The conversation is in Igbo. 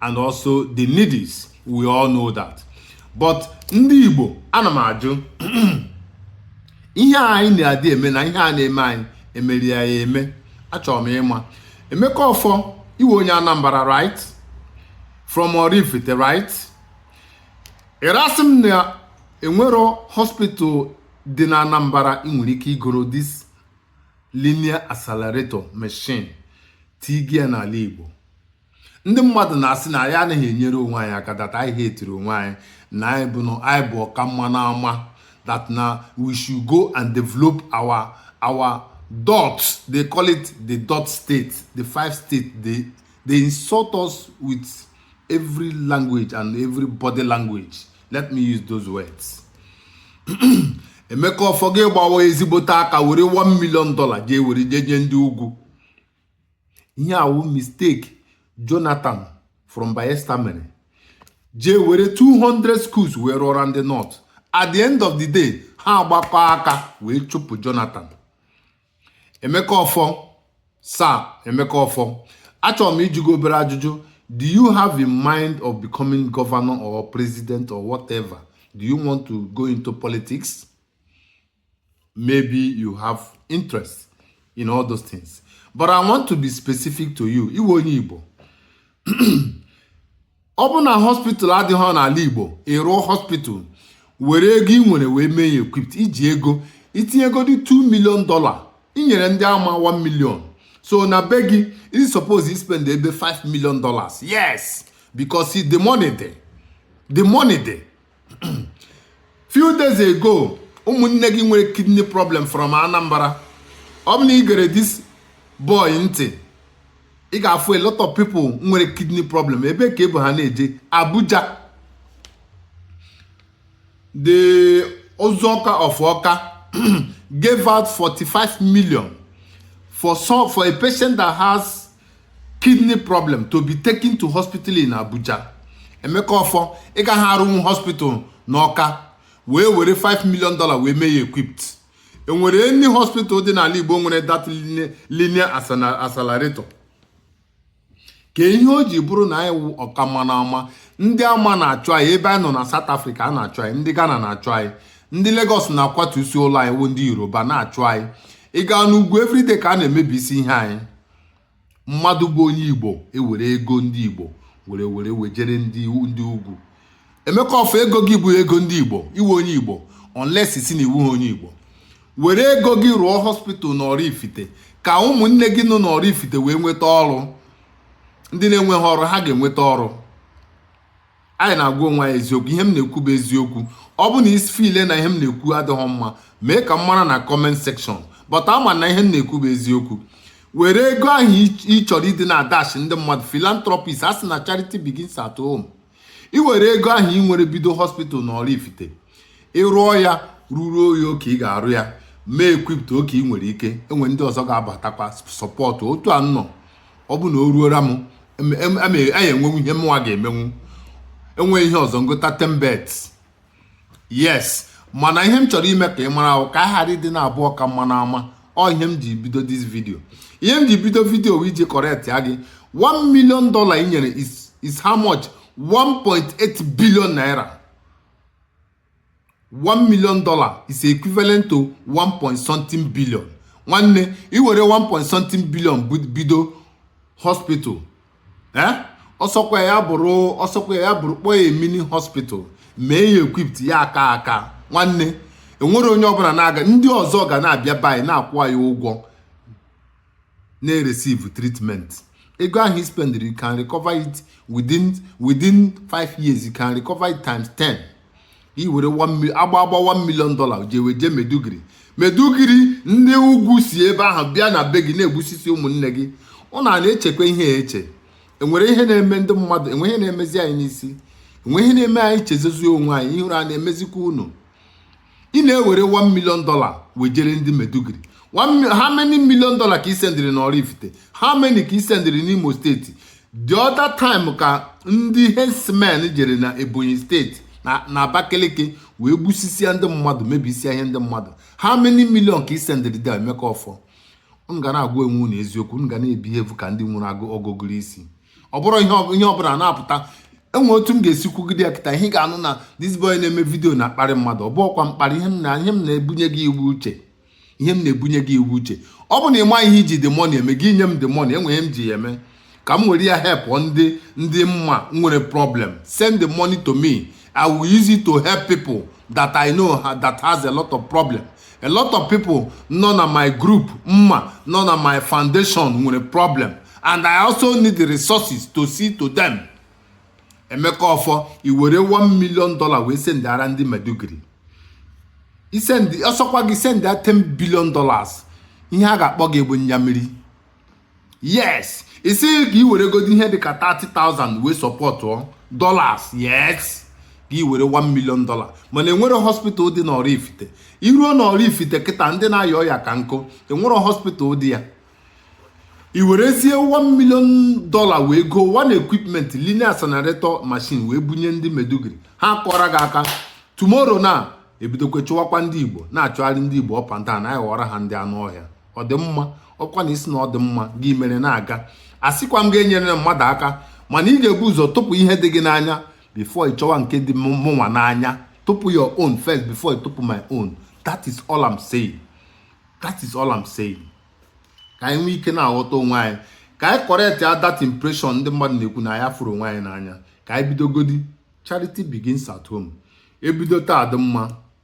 and also the needies we all know that but ndị Igbo ana m ajụ ihe anyị na-adị eme na ihe a na-eme anyị e mere anyị ya eme achọrọ m ịma Emeka Offor ị wụ onye Anambra right from Oraifite right ị na-asị m na e nwero hospital dị na Anambra ị nwere ike igoro this linear accelerator machine tinye ya n'ala Igbo ndị mmadụ na-asị na anyị anaghị enyere onwe anyị aka that anyị hetiri onwe anyị na anyị bụ na anyị bụ ọka mma n'ama that na we should go and develop our our dot they call it the dot state the five state they they insult us with every language and every body language let me use those words Emeka Offor gị gbawa ezigbote aka were 1 million dollar jee were jee nye ndị ugwu ihe a wụ mistake Jonathan from Bayelsa mere jee were 200 schools wee rụọra ndị north at the end of the day ha agbakọ aka wee chụpụ Jonathan Emeka Offor Sir Emeka Offor achọrọ m ịjụ gị obere ajụjụ do you have in mind of becoming governor or president or whatever do you want to go into politics maybe you have interest in all those things but i want to be specific to you ị wụ onye Igbo ọ bụrụ na hospital adịghị n'ala Igbo ị rụọ hospital were ego ị nwere wee mee ya equipped i ji ego i tinyegodị 2 million dollar i nyere ndị ama 1 million so na be gị i suppose ispend ebe 5 million dollars yes because the money dey the money dey few days ago ụmụnne gị nwere kidney problem from Anambra ọ bụ na i gere this boy ntị ị ga-afụ a lot of people nwere kidney problem ebe ka e bu ha na-eje Abuja the Ụzụ Ọka of Ọka gave out 45 million for some for a patient that has kidney problem to be taken to hospital in Abuja Emeka Offor ị gaghị arụnwu hospital n'Ọka wee were 5 million dollar wee mee ya equipped e nwere any hospital dị n'ala Igbo nwere that linear accelerator kee ihe o ji bụrụ na anyị wụ ọka mma n'ama ndị ama na-achụ anyị ebe anyị nọ na South Africa a na-achụ anyị ndị Ghana na-achụ anyị ndị Lagos na-akwatusi ụlọ anyị wụ ndị Yoruba na-achụ anyị ị gaa n'ugwu everyday ka a na-emebisi ihe anyị mmadụ bụ onye igbo ewere ego ndị igbo were were wejere ndị ndị ugwu Emeka Ọfọ ego gị bụ ego ndị igbo ị wụ onye igbo unless si na ị wụha onye igbo were ego gị rụọ hospital na Oraifite ka ụmụnne gị nọ na Oraifite wee nweta ọrụ ndị na-enweghị ọrụ ha ga-enweta ọrụ anyị na-agwa onwe anyị eziokwu ihe m na-ekwu bụ eziokwu ọ bụ na i si feel na ihe m na-ekwu adịghị mma mee ka m mara na comment section but ama m na ihe m na-ekwu bụ eziokwu were ego ahụ ị chọrọ ịdị na-adash ndị mmadụ philanthropist a sị na charity begins at home ị were ego ahụ ị nwere bido hospital na Oraifite ị rụọ ya rụruo ya oke ị ga-arụ ya mee equipped oke ị nwere ike enwe ndị ọzọ ga-abatakwa support otu a nnọ ọ bụ na o ruora m anyị enwenwu ihe mụnwa ga-emenwu enweghị ihe ọzọ ngụta tembet yes mana ihe m chọrọ ime ka ị mara wụ ka a ghara ịdị na-abụ ọka mma n'ama ọ ihe m ji bido this video ihe m ji bido video bụ iji correctia gị 1 million dollar i nyere is how much 1.8 billion naira 1 million dollar is equivalent to 1 point something billion nwanne i were 1 point something billion bido hospital eh ọsọkwa ya bụrụ ọsọkwa ya bụrụ kpọọ ya mini hospital mee ya equipped ya aka aka nwanne enwere onye ọbụla na-aga ndị ọzọ ga na-abịa be anyị na-akwụ anyị ụgwọ na-receive treatment ego ahụ i spendiri you can recover it within within 5 years you can recover it times 10 i were agba agba 1 million dollar jewe je Maiduguri Maiduguri ndị ugwu si ebe ahụ bịa na be gị na-egbusisi ụmụnne gị unu a na-echekwa ihe eche enwere ihe na-eme ndị mmadụ enwe ihe na-emezi anyị n'isi enwe ihe na-eme anyị chezozie onwe anyị ihere a na-emezikwa unu ị na-ewere 1 million dollar wejere ndị Maiduguri how many million dollar ka ị sendịrị na Oraifite how many ka ị sendịrị n'Imo steeti the other time ka ndị herdsmen jere na Ebonyi steeti na Abakaliki wee gbusisia ndị mmadụ mebisia ihe ndị mmadụ how many million ka ị sendịrị Dee Emeka Ọfọ unu ga na-agwa onwe unu eziokwu unu ga na-ebehave ka ndị nwere ọgụgụrụ isi ọ bụrụ ihe ọbụla na-apụta enwe otu m ga-esi kwugide ya kịta ihe ga-anụ na this boy na-eme video na-akparị mmadụ ọ bụhọkwa mkparị ihe m na ihe m na-ebunye gị wụ uche ihe m na-ebunye gị wụ uche ọ bụ na ị ma ihe i ji the money eme gị nye m the money enwe ihe m ji ya eme ka m were ya help ndị ndị m ma nwere problem send the money to me i will use it to help people that i know that has a lot of problem a lot of people nọ na my group m ma nọ na my foundation nwere problem and i also need the resources to see to them Emeka Ọfọ i were 1 million dollar wee sendiara ndị Maiduguri i send ọsọkwa gị send 10 billion dollars ihe a ga-akpọ gị bụ nyamiri yes ị sị ka i were godo ihe dịka 30,000 wee sọpọtụọ dollars yes gị were 1 million dollar mana enwere hospital dị n'oraifite i ruo n'oraifite kịta ndị na-aya ọya ka nkụ enwere hospital dị ya i werezie 1 million dollar wee go one equipment linear accelerator machine wee bunye ndị maiduguri ha kụọrọ gị aka tomorrow na ebidokwa chụwakwa ndị igbo na-achụgharị ndị igbo ọpanta na anyị ghọrọ ha ndị anụ ọhịa ọ dị mma ọkwa na ị sị na ọ dị mma gị mere na-aga asịkwa m gị enyerena mmadụ aka mana ị ga-ebu ụzọ tụpụ ihe dị gị n'anya before ị chọwa nke dị mụnwa n'anya tụpụ your own first before ị tụpụ my own that is all I'm saying that is all I'm saying ka anyị nwee ike na-aghọta onwe anyị ka anyị correctia that impression ndị mmadụ na-ekwu na anyị afụrọ onwe anyị n'anya ka anyị bidogodi charity begins at home ebido taa dị mma